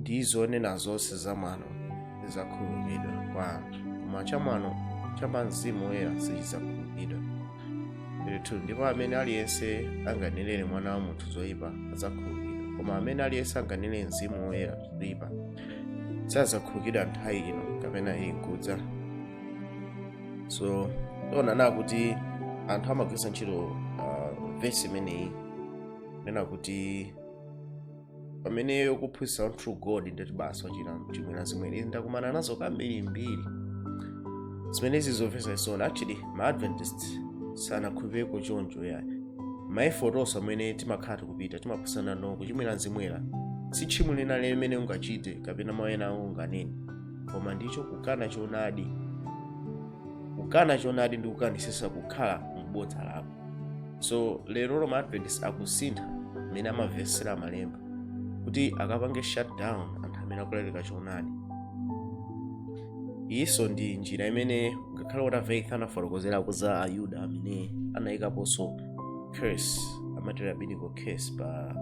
ndi zonena zonse za mwano zidzakhululukidwa kwa anthu koma cha mwano cha pa mzimu woyera sichidzakhululukidwa 32 ndipo amene aliyense anganenere mwana wa munthu zoyipa adzakhululukidwa koma amene aliyense anganenere mzimu woyera zoyipa sadzakhululukidwa nthawi ino kapena ilinkudza so tionana kuti anthu amagwiritsa ntchito uh, vesi imeneyi kunena kuti pamene ukuphunzitsa one true God ndiye kuti basi wachimwira mzimu woyera ndakumana nazo kambirimbiri zimenezi zomvetsa chisoni actually ma adventist sanakhulupireko choncho yayi maefoti onse amene timakhala tikupita timaphunzira no kuchimwira mzimu woyera si tchimo lina limene ungachite kapena mawu ena amene unganene koma ndicho kukana choonadi kukana choonadi ndi kukanisisa kukhala m'bodza lako so lero ma adventist akusintha mmene amavesera malemba kuti akapange shutdown anthu amene akulalikira choonadi iyinso ndi njira imene ngakhale Walter Veith anafotokozerako za ayuda amene anayikaponso curse amati rabbinical curse pa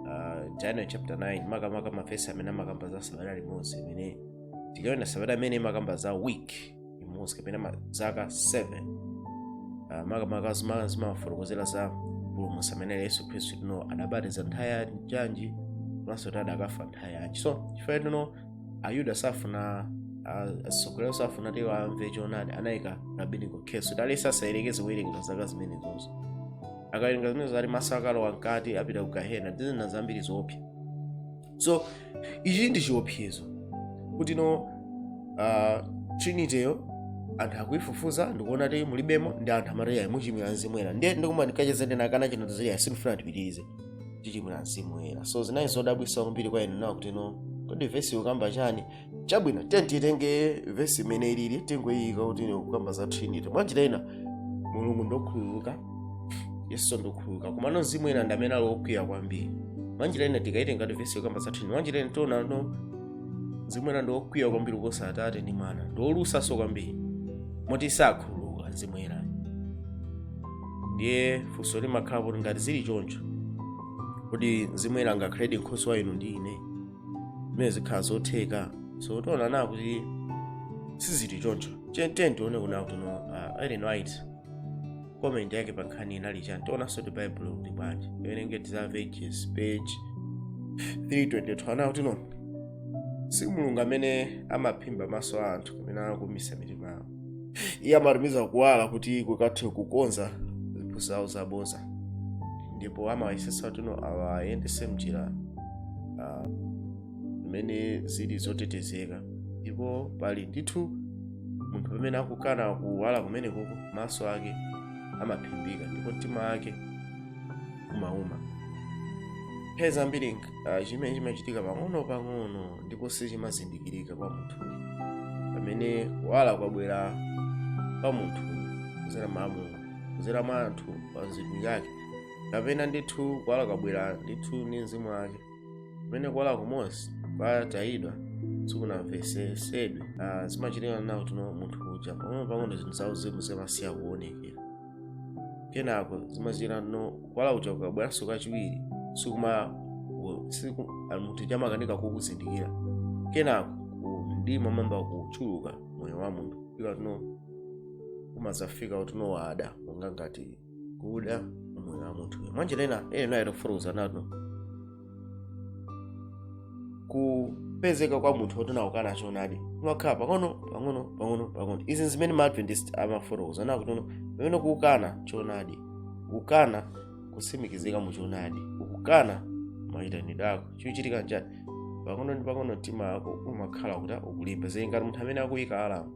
uh, daniel chapter 9 makamaka mavesi amene amakamba za sabata limodzi imene tikawerenga sabata imene imakamba za week imodzi kapena ma- zaka 7 Ah, makamaka zima- zimafotokozera za mpulumutsi ambuye yesu khristu kutino adzabatizidwa nthawi yanji komanso kuti adzakafa nthawi yanji so chifukwa kutino ayuda safuna asogolero safuna kuti amve choonadi anayika rabbinical curse kuti aliyense asayerekeze kuwerenga zaka zimenezozo akawerenga zimenezo ati mwana asakalowe mkati apita ku gahena ndi zina zambiri zoopsa so ichi ndi chiopsezo kuti no uh, trinityyo anthu akuifufuza ndikuona kuti mulibemo ndi anthu amati yayi muchimwira mzimu woyera ndiye ndikuma ndikacheza ndi nakana chino tizili yayi sindifuna tipitirize tichimwira mzimu woyera so zinali zodabwisa kwambiri kwa ine kuona kuti no kodi vesi ikukamba chani chabwino tiye titenge vesi mmene ilili tingoyiyika kuti ikukamba za trinity mwanjira ina mulungu ndokhululuka yesu ndokhululuka komano mzimu woyera ndi amene ali okwiya kwambiri mwanjira ina tikayitenga kuti vesi ikukamba za trinity mwanjira ina tiona no mzimu woyera ndi okwiya kwambiri kuposa atate ndi mwana ndi olusaso kwambiri moti sakhululuka mzimu woyera ndiye funso limakhala kuti ngati zili choncho kodi mzimu woyera angakhale nkhoswe wa inu ndi ine zimene sizikhala zotheka so tiona na kuti sizili choncho Tiye- tiye tione kuna kuti no uh, Ellen White comment yake pa nkhani inali chani tionanso kuti baibulo ikuti bwanji tiwerenge Desire of Ages page 322 ananena kuti no si mulungu amene amaphimba maso a anthu kapena kuumitsa mitima iye amatumiza kuwala kuti kukathe kukonza zinthu zawo zabodza ndipo amayesetsa kutino awayendetse mnjira ah, zimene zili zotetezeka ndipo pali ndithu munthu pamene akukana kuwala kumenekoko maso ake amaphimbika ndipo mtima wake umauma nthawi zambiri ah, chimene chimachitika pang'ono pang'ono ndipo sichimazindikirika kwa munthu pamene kuwala kwabwera kwa munthu kuzera mwa Mulungu kuzera mwa anthu atumiki ake kapena ndithu kuwala kwabwera ndithu ndi mzimu wake pamene kuwala kumodzi kwatayidwa sikunamvetsetsedwe zimachitika nawo kutino munthu uja pang'ono pang'ono zinthu zauzimu zimasiya kuonekera kenako zimachitika no kuwala kuja kukabweranso kachiwiri sikuma siku munthu uja amakanika kukuzindikira kenako mdima umayamba kuchuluka moyo wa munthu kufika kutino kumadzafika kutino kwada monga ngati kwada moyo wa munthu mwanjira ina nayo titafotokoza nato kupezeka kwa munthu woti no akukana choonadi kumakhala pang'ono pang'ono pang'ono pang'ono izi zimene ma adventist amafotokoza nawo kuti pamene ukukana choonadi ukukana kutsimikizika mu choonadi ukukana mayitanidwe ako chikuchitika nchani pang'ono ndi pang'ono mtima wako umakhala kuti ukulimba zili ngati munthu amene akuyika alamu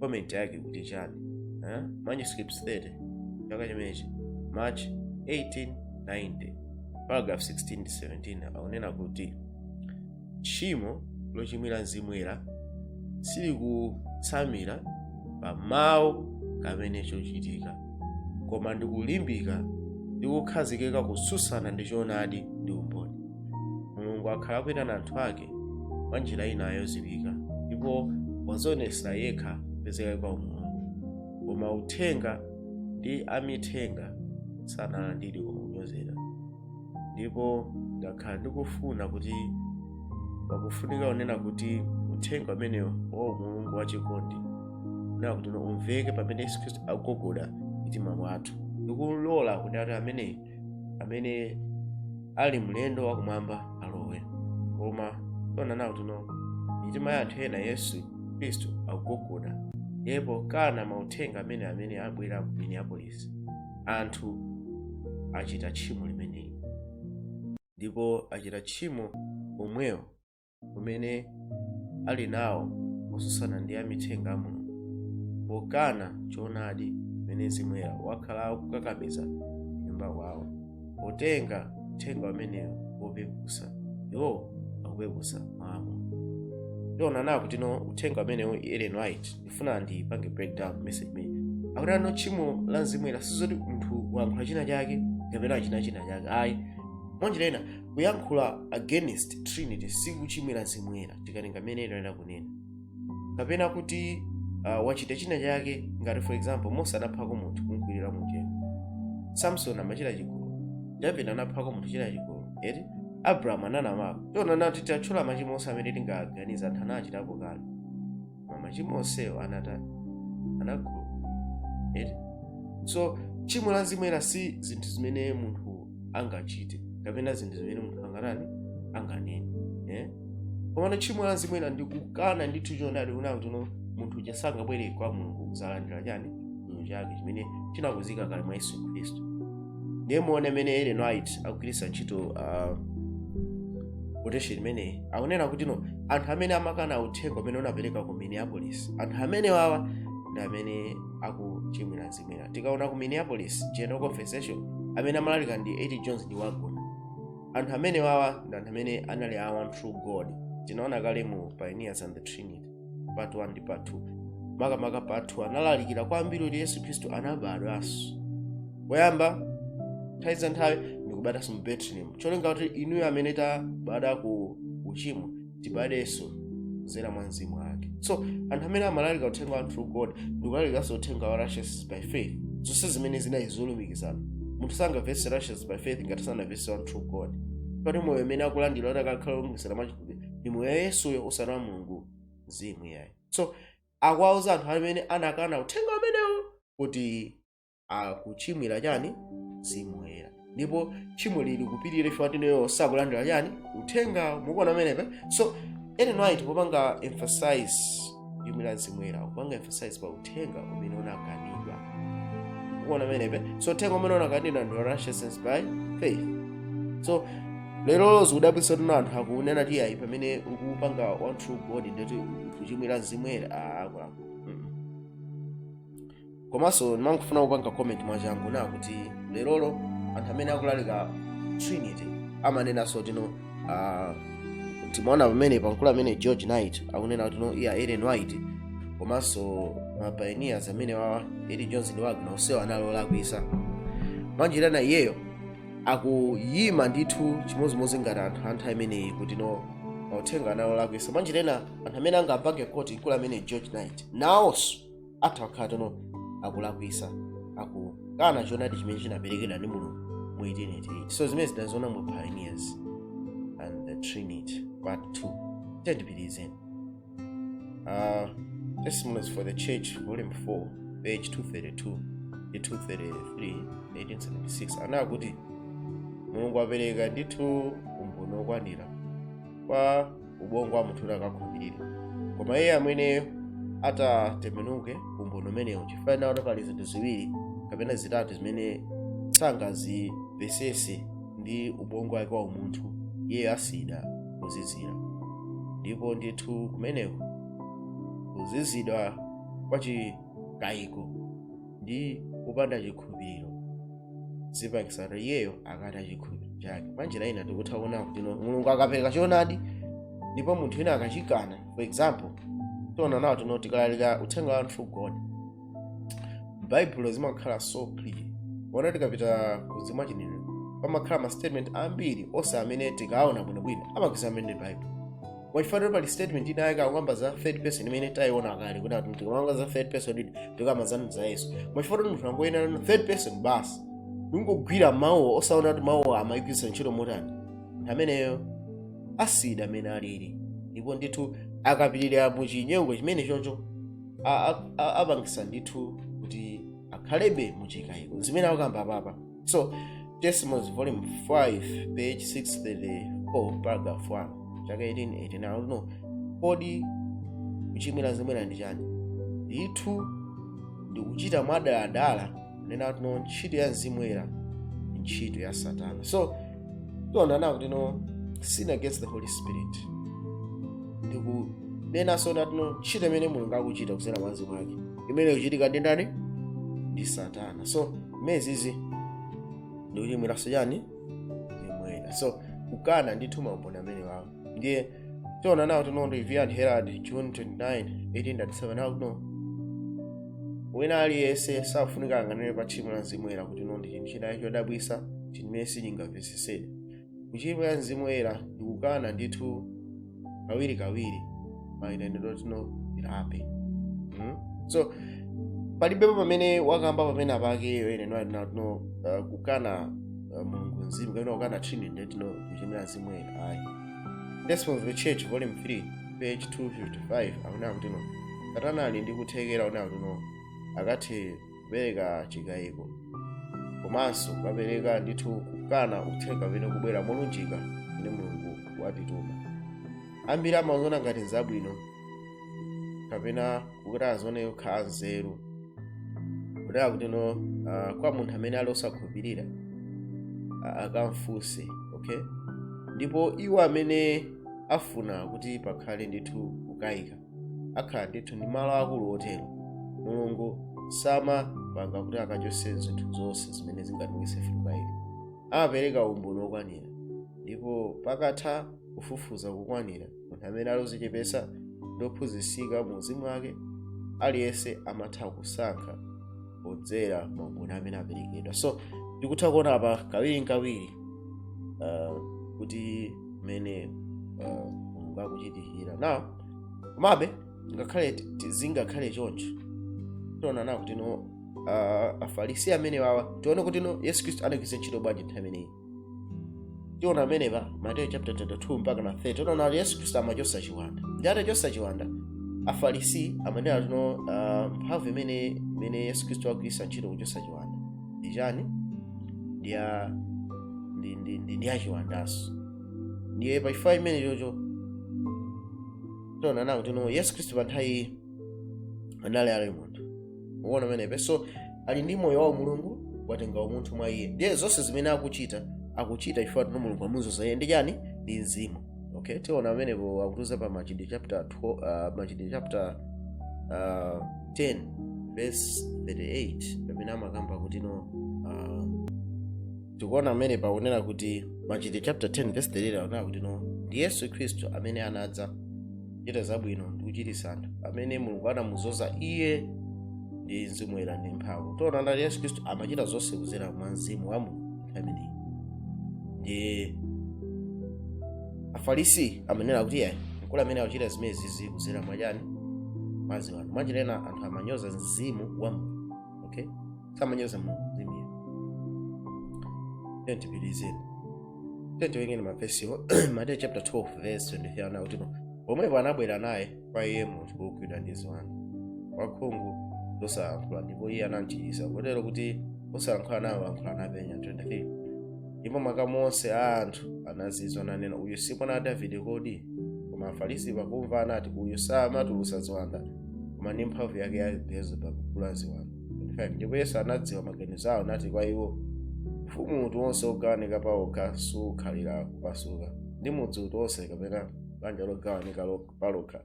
comment yake kuti chani eh? manuscript 30 chaka chimenechi march 1890 paragraph 16 ndi 17 akunena kuti tchimo lochimwira mzimu woyera silikutsamira pa mawu kapena chochitika koma ndikulimbika ndi kukhazikika kutsutsana ndi choonadi ndi umboni mulungu akhala akuyitana anthu ake mwa njira inayo yodziwika ndipo wadzionetsera yekha kupezeka kwa umulungu koma uthenga ndi amithenga sanalandiridwe koma kunyozedwa ndipo ndakhala ndikufuna kuti pakufunika kunena kuti uthenga umenewo wa mulungu wachikondi unena kuti umveke pamene yesu khristu akugogoda m'mitima mwathu ndikulola kuti ati amene amene ali mlendo wakumwamba alowe koma taona nawo kutino mitima ya anthu ena yesu khristu akugogoda ndipo pokana mauthenga amene amene abwera ku minneapolis anthu achita tchimo limeneli ndipo achita tchimo omwewo umene ali nawo motsutsana ndi amithenga a mulungu pokana choonadi chimene mzimu woyera wakhala akukakamiza nyumba kwawo potenga uthenga umenewo wopeputsa iwo akupeputsa mamo tionanawo kuti no uthenga umenewo ellen white ndifuna ndipange breakdown message imene akuti ah no tchimo la mzimu woyera sizoti munthu wayankhula china chake kapena wachita china chake ayi mwanjira ina kuyankhula against trinity sikuchimwira mzimu woyera tikatenga mmene ena akunenera kapena kuti uh, wachita china chake ngati for example mose anaphako munthu kumkwirira mumchenga samson amachita chigololo david anaphako munthu kuchita chigololo eti abrahamu ananamako choncho titati tatchula machimo onse amene tingaganiza anthu anachitapo kale koma machimo onsewo anatani anakhululuka eti so tchimo la mzimu woyera si zinthu zimene munthu angachite kapena zinthu zimene munthu angatani anganene eh? komano tchimo la mzimu woyera ndikukana ndithu choonadi kunena kuti no munthu uja sangabwere kwa mulungu kuzalandira chani chikhululuko chake chimene chinakonzeka kale mwa yesu khristu ndiye muone mmene ellen white akugwiritsa ntchito uh, quotation imeneyi akunena kuti no anthu amene amakana uthenga umene unaperekedwa ku minneapolis anthu amenewawa ndi amene akuchimwira mzimu woyera tikaona ku minneapolis general conference session amene amalalika ndi a t jones ndi waggoner anthu amenewawa ndi anthu amene anali a one true god tinaona kale mu pioneers and the trinity part 1 ndi part 2 makamaka part 2 analalikira kwambiri kuti yesu khristu anabadwa poyamba nthawi za nthawi ndikubadwanso mu betlehemu cholinga kuti ifeyo amene tabadwa ku uchimo tibadwenso kudzera mwa mzimu wake so anthu amene amalalika uthenga wa one true god ndikulalikanso uthenga wa righteousness by faith zonse zimenezi ndi zolumikizana munthu sangamvetse righteousness by faith ngati sanamvetse one true god poti moyo umene akulandira kuti akakhale olumikizana mwa ndi moyo wa yesuyo osati wa mulungu mzimu iyayi so akuwauza anthu amene anakana uthenga umenewo kuti akuchimwira chani mzimu woyera ndipo tchimo likupitirira chifukwa chani iwo sakulandira chani uthenga mukuona pamenepa so ellen white akupanga emphasize tchimo la mzimu woyera akupanga emphasize pa uthenga umene unakanidwa mukuona pamenepa so uthenga umene unakanidwa ndi righteousness by faith so lero zikudabwitsa kuti no anthu akunena kuti ayi pamene ukupanga one true god ndekuti ukuchimwira mzimu woyera akulaku komanso ndimangofuna kupanga comment mwachangu na kuti lerolo anthu amene akulalika trinity amanenanso tino uh, timaona pamene pankulu amene george knight akunena kuti no iya ellen white komanso ma pioneers amenewawa a t jones ndi waggoner onsewo anali olakwisa mwanjira ina iyeyo akuyima ndithu chimodzimodzi ngati anthu a nthawi imeneyi kuti no mauthenga anali olakwisa mwanjira ina anthu amene angapange kuti mkulu amene george knight nawonso atha kukhala kuti no akulakwisa akukana choonadi chimene chinaperekedwa ndi mulungu mu 1888 so zimene tidaziona mu pioneers and the trinity part 2 tiyeni tipitirize uh, testimonies for the church volume 4 page 232 ndi 233 1876 anena kuti mulungu apereka ndithu umboni wokwanira kwa ubongo wa munthu kuti akakhulupirire koma iye amene atatembenuke umboni umenewu chifukwa chonena kuti pali zinthu ziwiri kapena zitatu zimene sangazimvesese ndi ubongo wake wa umunthu iye asiyidwa kuzizira ndipo ndithu kumeneko nkuzizidwa kwa chikayiko ndi kupanda chikhulupiriro zipangisa kuti iyeyo akataye chikhulupiriro chake pa njira ina tikutha kuona kuti no- mulungu akapereka choonadi ndipo munthu wina akachikana for example tiona nawo tino tikalalika uthenga wa one true god baibulo zimakhala so clear ona tikapita ku mzimu wa chinenero pamakhala ma statement ambiri onse amene tikaona bwinobwino amakisa amene baibulo koma chifukwa choti pali statement inayake akukamba za third person imene tayiona kale kuti ati tikukamba za third person ndiye tikukamba zanu za yesu koma chifukwa choti munthu angowerenga third person basi ndingogwira mawu osaona kuti mawu amayigwiritsa ntchito motani ameneyo asiyidwa mmene alili ndipo ndithu akapitirira mu chinyengo chimenechocho a- a- a- apangisa ndithu kuti akhalebe mu chikayiko zimene akukamba apapa so testimonies volume 5 page 634 paragraph 1 chaka 1889 kuti no kodi kuchimwira mzimu woyera ndi chani ndithu ndikuchita mwadaladala kunena kuti no ntchito ya mzimu woyera ndi ntchito ya satana so tiona nawo kuti no sin against the holy spirit ndikunenanso kuti no ntchito imene mulungu akuchita kudzera mwa mzimu wake imene ikuchitika ndi ndani ndi satana so zimenezizi ndikuchimwiranso chani mzimu woyera so kukana ndithu maumboni amenewawo ndiye tiona nawo kuti no review and herald june 29 1897 nawo kuno wina aliyense safunika anganene pa tchimo la mzimu woyera kuti no ndi chinthu china chodabwisa chimene sichingamvesesedwe kuchimwira mzimu woyera ndi kukana ndithu kawirikawiri mayitanidwe oti tilape mm? so palibepo pamene wakamba pamene apa akunena tino uh, kukana uh, mulungu mzimu kapena kukana trinity nde tino kuchimwira mzimu woyera ayi Testimonies of the Church volume 3 page 255 akunena kuti no satana ali ndi kuthekera akunena kuti no akathe kupereka chikayiko komanso kukapereka ndithu kukana uthenga umene kubwera molunjika umene mulungu watituma ambiri amaziona ngati nzabwino kapena kuti azione kukhala nzeru kunena kutino uh, kwa munthu amene ali osakhulupirira a- akamfunse okay ndipo iwo amene afuna kuti pakhale ndithu kukayika akhala ndithu ndi malo akulu otero mulungu samapanga kuti akachose zinthu zonse zimene zingatichititse kukayika amapereka umboni wokwanira ndipo pakatha kufufuza kukwanira munthu amene ali ozichepesa ndi ophunzitsika mu uzimu wake aliyense amatha kusankha podzera maumboni amene aperekedwa so tikutha kuona apa kawiri nkawiri uh, kuti mmene uh, mulungu akuchitira now komabe ngakhale ti- ti- zingakhale choncho tiona nawo kuti no uh, afarisi amene wawa tione kuti no yesu khristu anagwiritsa ntchito bwanji nthawi imeneyi tiona amenepa mateyo chapter 22 mpaka na 30 tiona kuti yesu khristu amachosa chiwanda ndi atachosa chiwanda afarisi amanena kuti no uh, mphamvu imene imene yesu khristu agwiritsa ntchito kuchosa chiwanda ndi chani ndi ya ndi ndi ndi, ndi ya chiwandanso ndiye pa chifukwa chimenecho tiona nawo tino yesu khristu pa nthawi anali ali munthu muona pamenepa so ali ndi moyo wa mulungu watenga umunthu mwa iye ndiye zonse zimene akuchita akuchita chifukwa tino mulungu amuzoza iye ndi chani ndi mzimu okay tiona pamenepo akutiuza pa machitidwe chapter 12, uh, machitidwe chapter uh, 10 verse 38 pamene amakamba kuti no uh, tikuona pamenepa akunena kuti machitidwe chapter 10 verse 38 akunena kuti no ndi yesu khristu amene anadza kuchita zabwino ndi kuchiritsa anthu amene mulungu anamuzoza iye ndi mzimu woyera ndi mphamvu tiona kuti yesu khristu amachita zonse kuzera mwa mzimu wa mulungu nthawi imeneyi ndi afarisi amanena kuti ayi mkulu ameneyu akuchita zimenezizi kuzera mwa chani mwa ziwanda mwachilena anthu amanyoza mzimu wa mulungu okay samanyoza mulungu ndimiyo tiye tipitirizeni tiye tiwerenge mavesiwo mateyu chapter 12 verse 23 anena kuti pomwepo anabwera naye kwa iye munthu wogwidwa ndi ziwanda wakhungu losalankhula ndipo iye anamchiritsa kotero kuti osalankhula nawo lankhula napenya 23 ndipo makamu onse a anthu anazizwa nanena uyu si mwana wa davide kodi koma afarisi pakumva anati uyu samatulutsa ziwanda koma ndi mphamvu yake ya beelzebub mkulu wa ziwanda 25 ndipo yesu anadziwa maganizo awo nati kwa iwo ufumu uti wonse wogawanika pawokha sukhalira kupasuka ndi mudzi uti wonse kapena banja logawanika lo- palokha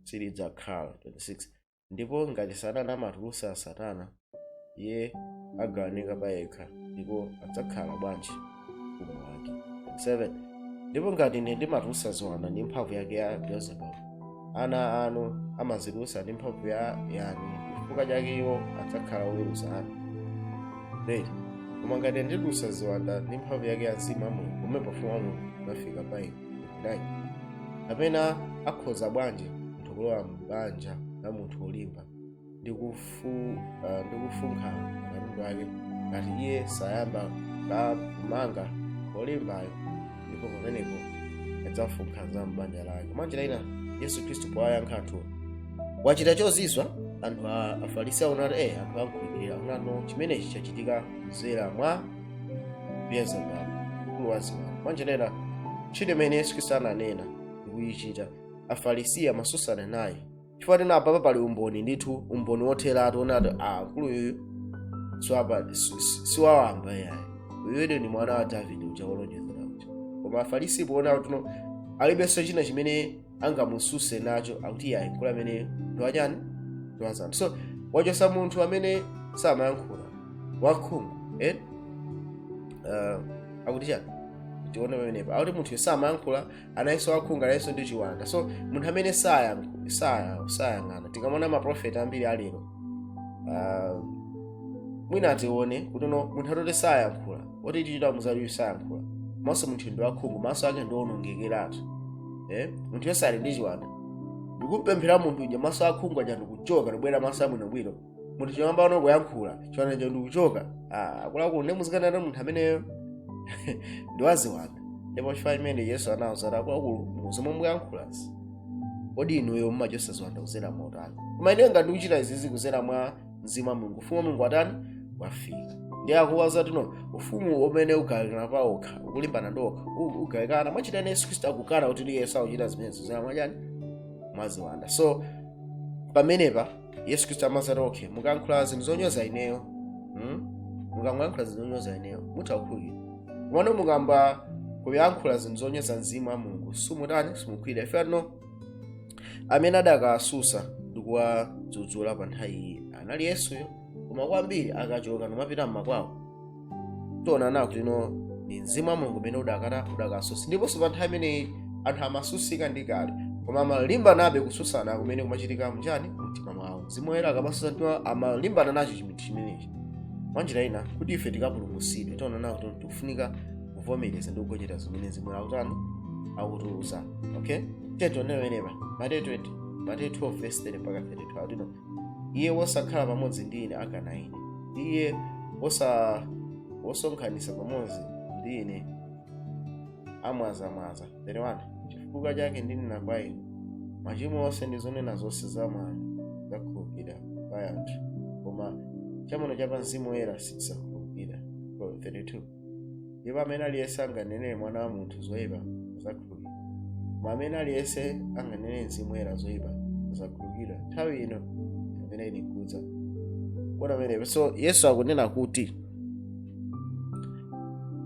silidzakhala 26 ndipo ngati satana amatulutsa satana iye agawanika payekha ndipo adzakhala bwanji ufumu wake 7 ndipo ngati ine ndimatulutsa ziwanda ndi mphamvu yake ya beelzebub ana anu amazitulutsa ndi mphamvu ya yani chifukwa chake iwo adzakhala oweruza anu 8 koma ngati ine nditulutsa ziwanda ndi mphamvu yake ya mzimu wa mulungu pomwepo ufumu wa mulungu unafika pa inu 9 kapena akhoza bwanji munthu kulowa m'banja la munthu wolimba ndi kufu- ah, ndi kufunkha akatundu ake ngati iye sayamba ka- kumanga olimbayo ndipo pamenepo adzafunkha za m'banja lake mwanjira ina yesu khristu powayankha anthuwo wachita chozizwa anthu a afarisi aona kuti eh anthu akhulupirira onano chimenechi chachitika kudzera mwa beelzebub mkulu wa ziwanda mwanjira ina ntchito imene yesu khristu ananena ndikuyichita afarisi amasusana naye chifukwa tena apapa pali umboni ndithu umboni wotheratu onati mkuluyu siwapa- si- si- siwawamba yayi uyuyu ndi mwana wa davide uja wolonjezedwa uja koma afarisi poona kuti no alibenso china chimene angamususe nacho akuti yayi mkulu ameneyu ndi wachani ndi waziwanda so wachosa munthu amene samayankhula wakhungu eh? uh, akuti chani tione pamenepa akuti munthuyo samayankhula analinso wakhungu analinso ndi chiwanda so munthu amene sayang- saya- sayang'ana tikamona maprofeti ambiri alero uh, mwina atione kuti no munthu atoti sayankhula oti tichita muzayu sayankhula maso munthu ndi wakhungu maso ake ndi onongekeratu eh? munthuyonso ali ndi chiwanda ndikumpemphera munthu uja maso akhungu aja ndikuchoka ndikubwera maso abwinobwino munthu kuyambano kuyankhula chiwandacho ndikuchoka Ah, akuluakulu ndi muzikanena munthu ameneyo ndiwaziwanda ndipo chifukwa chimene yesu anawauza kuti akuluakulu muzomwe muyankhulazi kodi inuyo mumachotsa ziwanda kuzera motani koma ineyo ngati ndikuchita izizi kuzera mwa mzimu wa mulungu ufumu wa mulungu watani wafika ndiye akuwauza kuti no ufumu umene ugawikana pa okha ukulimbana ndi okha u- ugawikana mwachitani yesu khristu akukana kuti ndi yesu akuchita zimenezo kuzera mwachani mwaziwanda so pamenepa yesu khristu amazati okay mukayankhula zinthu zonyoza ineyo hmm? mukayankhula zinthu zonyoza ineyo mutha kukhululukidwa komano mukayamba kuyankhula zinthu zonyoza mzimu wa mulungu simutani simukhululukidwa ifeyo pano amene adakasusa ndi kuwadzudzula pa nthawi iyi anali yesuyo koma ambiri akachoka n'kumapita mmakwawo tionana kuti ndi mzimu wa mulungu umene udakatha udakasusa ndiponso pa nthawi imeneyi anthu amasusika ndi kale koma amalimbanabe kususana kumene kumachitika mchani mtima mwawo mzimu woyera akamasusa mtima amalimbana nacho chinthu chimenechi mwanjira ina kuti ife tikapulumutsidwe tionana kuti tikufunika kuvomereza ndi kugonjera zimene mzimu woyera akutani akutiuza okay tione pamenepa mateyo 20 mateyo 12 verse 30 mpaka 32 akuti iye wosakhala pamodzi ndi ine akana ine ndi iye wosa wosonkhanitsa pamodzi ndi ine amwazamwaza 31 chifukwa chake ndinena kwa inu machimo onse ndi zonena zonse za mwano zizakhululukidwa kwa anthu koma chamwano cha pa mzimu woyera sichizakhululukidwa 32 ndipo amene aliyense anganenere mwana wa munthu zoyipa azakhululukidwa koma amene aliyense anganenere mzimu woyera zoyipa sazakhululukidwa nthawi ino imene ili nkudza mwaona pamenepo so yesu akunena kuti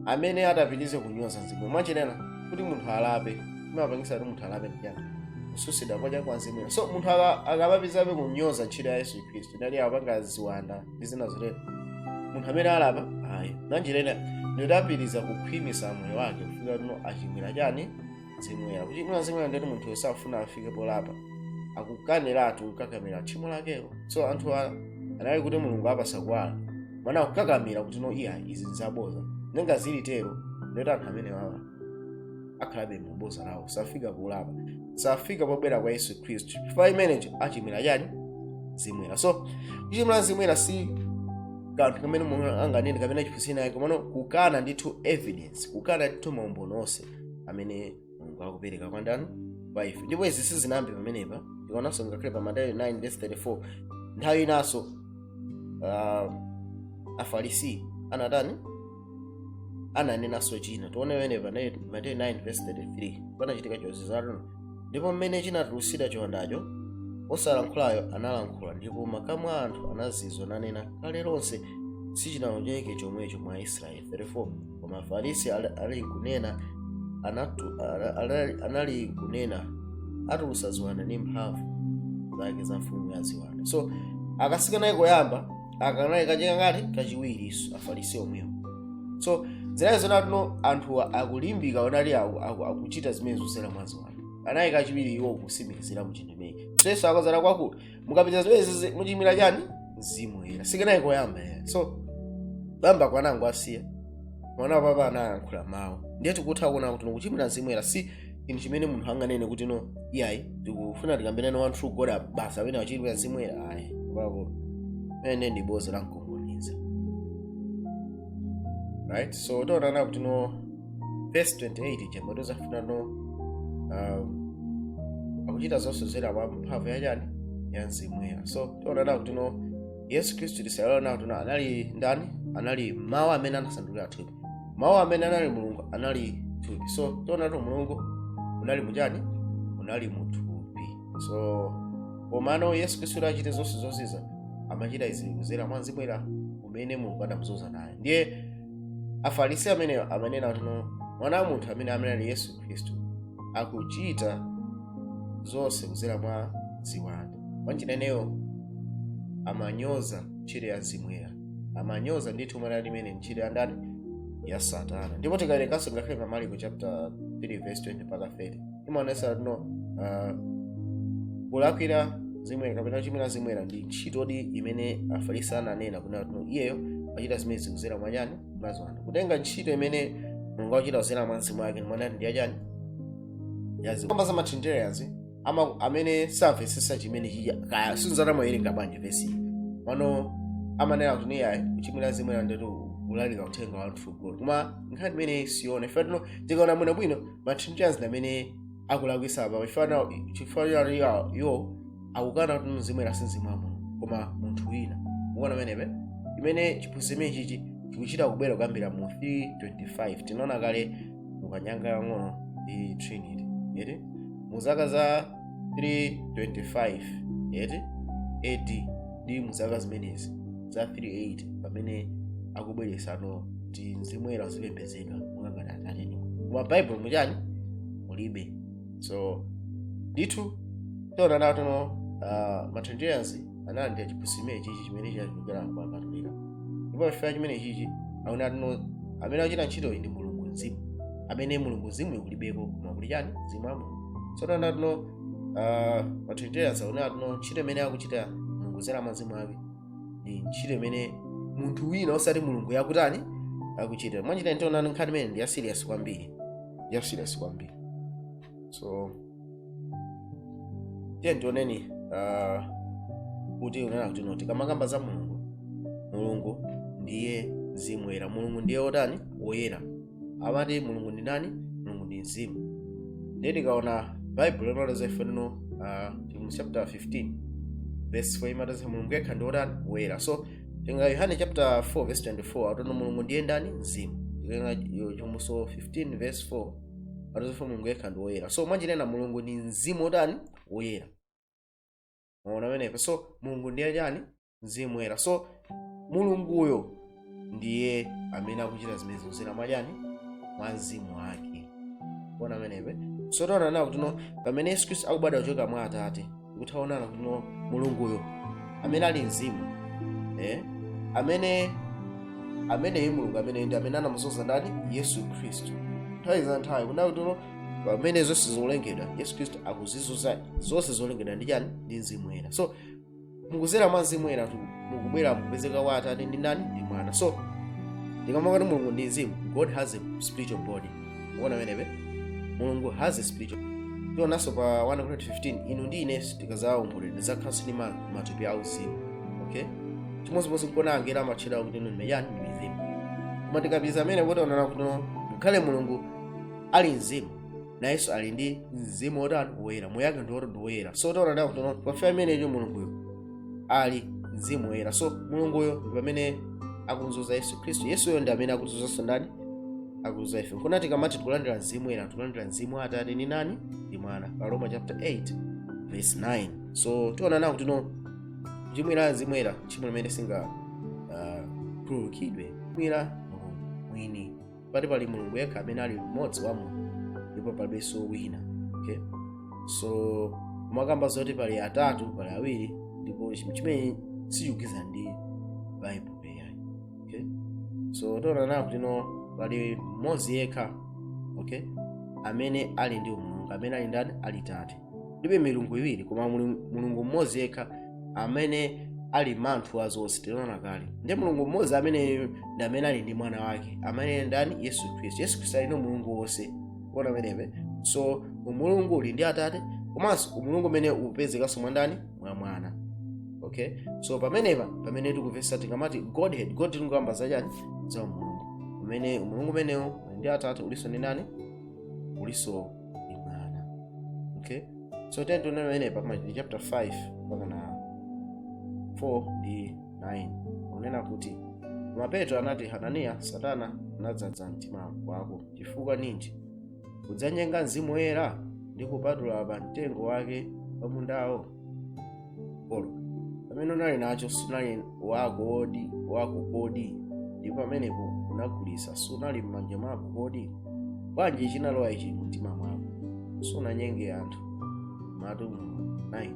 amene atapitirize kunyoza mzimu monga tinanena kuti munthu alape imapangisa kuti munthu alape ndichani kususidwa kwa chani kwa mzimu woyera so munthu aka- akapapitirizabe kunyoza ntchito ya yesu khristu ndani akapanga ziwanda ndi zina zotero munthu ameneyo salapa ayi mwanjira ina ndiye apitiriza kukhwimisa moyo wake kufika kuti achimwira chani mzimu woyera kuchimwira mzimu woyera ndiye kuti munthu uyo safuna afike polapa akukaniratu kukakamira tchimo lakelo so anthu a- anali kuti mulungu wawapasa kuwala koma akukakamira kuti no iya izi nzaboza ndiye ngati zili tero ndiye kuti anthu amenewawa akhalabe mu boza lawo safika polapa safika pobwera kwa yesu khristu chifukwa chimenecho achimwira chani mzimu woyera so kuchimwira mzimu woyera si kanthu kamene munthu anganene kapena chiphunzitso ayi komano kukana ndithu evidence kukana ndithu maumboni onse amene mulungu akupereka kwa ndani kwa ife ndipo izi sizinayambe pamenepa tikaonanso ngakhale pa mateyu 9 verse 34 nthawi inanso uh, afarisi anatani ananenanso china tione pamenepa mateyu 9 verse 33 panachitika chozizwa ndipo mmene chinatulusidwa chiwandacho osalankhulayo analankhula ndipo makamu a anthu anazizwa nanena kale lonse sichinaoneke chomwecho mwa israeli 34 koma afarisi ali- ali kunena anatu- ana- ana- anali kunena atulusa ziwanda ndi mphamvu zake za mfumu ya ziwanda so sikanali koyamba aka kanali kachika ngati kachiwirinso afarisi omwewo so zinali zoona ti no anthuwa akulimbika onali aku- aku- akuchita zimenezo zera mwa ziwanda anali kachiwiri iwo kusimikizira mu chinthu imeyi so yesu akazana kwakulu mukapita zimenezi muchimwira chani mzimu woyera sikanali koyamba ayi so bamba kwanangu asiya mwana wa papa anayankhula mawu ndiye tikutha kuona kuti mukuchimwira mzimu woyera si inu chimene munthu anganene kuti no iyayi ndikufuna tikambirane one true god apa basi amene wachimwira mzimu woyera ayi kwakulu ene ndi bodza lamkunkhuniza right so taona kuti no verse 28 ija mwetu zafuna no um, akuchita zonse zera mwa mphamvu yachani ya mzimu woyera so taona kuti no yesu khristu tisaiwale kuti no anali ndani anali mawu amene anasandulika thupi mawu amene anali mulungu anali thupi so tionatu mulungu unali muchani unali muthupi so komano yesu khristu kuti achite zonse zozizwa amachita izi kuzera mwa mzimu woyera umene mulungu adamuzoza naye ndiye afarisi amene amanena kuti no mwana wa munthu amene amene ali yesu khristu akuchita zonse kuzera mwa ziwanda mwanjira imeneyo amanyoza ntchito ya mzimu woyera amanyoza ndithu mwana ali mene ntchito ya ndani ya satana ndipo tikawerenganso ngakhale pa maliko chapter 3 verse 20 mpaka 30 imaonesa no uh, kulakwira mzimu woyera kapena kuchimwira mzimu woyera ndi ntchitodi imene afarisi ananena kunena kuti no iyeyo achita zimenezi kuzera mwa chani mwa ziwanda kutenga ntchito imene mulungu akuchita kuzera mwa mzimu wake mwanani ndi yachani ya ziwanda za matrinitarians ama- amene samvetsetsa chimene chiya kaya sinzata amawerenga bwanji vesi mano amanena kuti iyayi kuchimwira mzimu woyera ndiko kulalika uthenga wa one true god koma nkhani imene si yoona chifukwa tino tikaona bwinobwino matrinitarians amene akulakwisa apa chifukwa nawo- chifukwa chani iwo- iwo akukana kuti mzimu woyera si mzimu wa mulungu koma munthu wina ukuona pamenepe imene chiphunzitso chimenechichi chikuchita kubwera kuyambira mu 325 tinaona kale mukanyanga yang'ono ndi trinity eti mu zaka za 325 eti ad ndi mu zaka zimenezi za 38 pamene akubweretsa no ti mzimu woyera uzipembedzedwa monga ngati atate koma baibulo muchani mulibe so ndithu tiona nato no uh, ma trinitarians analandira chiphunzitso chimene chichi chimene chinachokera kwa akatolika ndipo chifukwa chimene chichi aona atino amene akuchita ntchitoyi ndi mulungu mzimu amene mulungu mzimu kulibeko koma kuli chani mzimu wa mulungu so tiona ti no matrinitarians aona atino ntchito imene akuchita mulungu zera mwa mzimu wake ndi ntchito imene munthu wina osati mulungu yakutani akuchita mwanjira tiona nkhani imene ndi ya serious kwambiri ya serious kwambiri so tiye tioneni ah, kuti unena kuti no tikamakamba za mulungu mulungu ndiye mzimu woyera mulungu ndiye wotani woyera amati mulungu ndi nani mulungu ndi mzimu ndiye tikaona baibulo limaleza ife lino ah, tili mu chapter 15 verse 4 imateza mulungu yekha ndi wotani woyera so tenga yohane chapter 4 verse 24 atona mulungu ndiye ndani mzimu tikaona Chivumbulutso 15 verse 4 palibe kuti mulungu yekha ndi woyera so mwanjinena mulungu ndi mzimu wotani woyera mwaona pamenepo so mulungu ndiye chani mzimu woyera so mulunguyo ndiye amene akuchita zimene zikudzera mwachani mwa mzimu wake mukuona pamenepo so tionanawo kuti no pamene yesu khristu akubadwa kuchoka mwa atate kuti taonana kutino mulunguyo amene ali mzimu eh? amene ameneyi mulungu amene ndi amene anamudzoza ndani yesu khristu nthawi za nthawi kuona kutino pamene zonse zolengedwa yesu khristu akuzidzoza zonse zolengedwa ndi chani ndi mzimu woyera so mukudzera mwa mzimu woyeratu mukubwera mukupezeka wa atate ndi nani ndi mwana so ndikamati mulungu ndi mzimu god has a spiritual body mukuona pamenepo mulungu has a spiritual tionanso pa 1 Corinthians 15 inu ndi ine tikadzawomboledwa tidzakhalanso ndi ma- matupi auzimu okay chimodzimodzi nkuona angelo amatchedwa kutino ndi chani ndi mizimu koma tikapeza amene kuti onana kuti ngakhale mulungu ali mzimu nayenso ali ndi mzimu wotani woyera moyo wake ndi woti ndi woyera so tionana kuti pafika imeneyo mulunguyo ali mzimu woyera so mulunguyo ndi pamene akudzoza yesu khristu yesuyo ndi amene akudzozanso ndani akudzoza ife nkona tikamati tikulandira mzimu woyera tikulandira mzimu wa atate ni nani ndi mwana pa roma chapter 8 verse 9 so tiona nawo kutino kuchimwira mzimu woyera tchimo limene singa uh, khululukidwe kuchimwira mulungu mwini pati pali mulungu yekha amene ali mmodzi wa mulungu ndipo palibenso wina okay? so kumakamba zoti pali atatu pali awiri ndipo chimene sichikugwirizana ndi baibulo peyayi okay? so tiona nawo kuti no pali mmodzi yekha okay? amene ali ndi umulungu amene ali ndani ali tate kulibe milungu iwiri koma mulungu mmodzi yekha amene ali mmanthu wa zonse tinaona kale ndi mulungu mmodzi ameneyo ndi amene ali ndi mwana wake amene ndani yesu khristu yesu khristu ali ndi umulungu wonse kuona pamenepo so umulungu uli ndi atate komanso umulungu umene ukupezekanso mwa ndani mwa mwana okay so pamenepa pamene tikupeza tikamati godhead god tikukamba zachani za umulungu umene umulungu umenewo uli ndi atate ulinso ndi ndani ulinso ndi mwana okay so tiyeni tione pamenepa machitidwe chapter 5 mpaka na 4 ndi 9 kunena kuti koma petro anati hananiya satana anadzadza mtima wako chifukwa ninji kudzanyenga mzimu woyera ndi kupatula pa mtengo wake wa mundawo Olo, pamene unali nacho sinali wako wodi wako kodi ndipo pamenepo unagulitsa sunali m'manja mwako kodi bwanji chinalowa ichi mumtima mwako sunanyenge anthu matu 9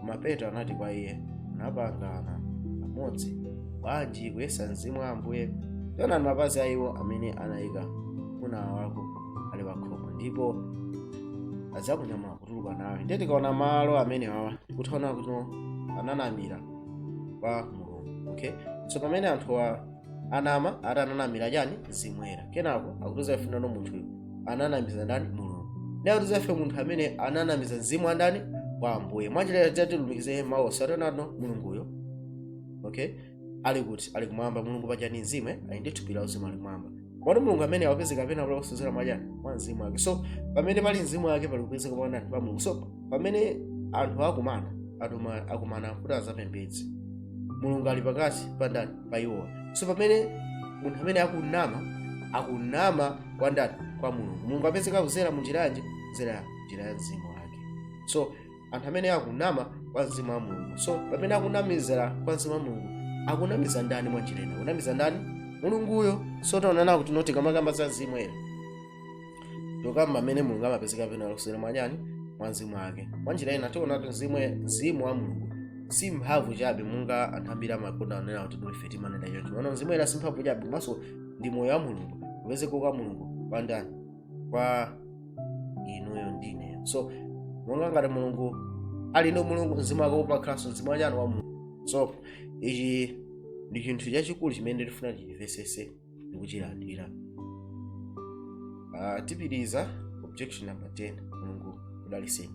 koma petro anati kwa iye munapangana pamodzi bwanji kuyesa mzimu wa ambuye taonani mapazi a iwo amene anayika mwamuna wako ali pakhomo ndipo adzakunyamula kutuluka nawe ndiye tikaona malo amene awa tikuona kuti ananamira kwa mulungu okay so pamene anthuwa anama ati ananamira chani mzimu woyera kenako akutiuza ife nano munthuyo ananamiza ndani mulungu ndiye akutiuza ife munthu amene ananamiza mzimu wa ndani wa ambuye mwanjira tilumikize mawu osati nano mulunguyo okay ali kuti ali kumwamba mulungu paja ndi mzimu eh? ali ndi thupi la uzimu ali kumwamba koma mulungu amene akupezeka kapena kuti kudzera mwachani mwa mzimu wake so pamene pali mzimu wake pali kupezeka pa ndani pa mulungu so pamene anthu akumana atuma akumana kuti azapembedze mulungu ali pakati pa ndani pa iwowa so pamene munthu amene akunama akunama kwa ndani kwa mulungu mulungu apezeka kudzera mu njira yanji kudzera njira ya mzimu wake so anthu amene akunama kwa mzimu wa mulungu so pamene akunamizira kwa mzimu wa mulungu akunamiza ndani mwanjira ina akunamiza ndani mulunguyo so taonana kuti tikamakamba za mzimu woyera tokamba amene mulungu amapezeka pena kudzera mwachani mwa mzimu wake mwanjira ina tiona kuti mzimu mzimu wa mulungu si mphamvu chabe monga anthu ambiri amakonda kunena kuti ndife timanena choncho mana mzimu woyera si mphamvu chabe komanso ndi moyo wa mulungu kupezeka kwa mulungu kwa ndani kwa inuyo ndi ineyo so monga ngati mulungu ali ndi mulungu mzimu wake umakhalanso mzimu wachani wa mulungu so ichi ndi chinthu chachikulu chimene tifuna tichimvesese ndi kuchilandira Ah, tipitiriza objection number 10 mulungu udaliseni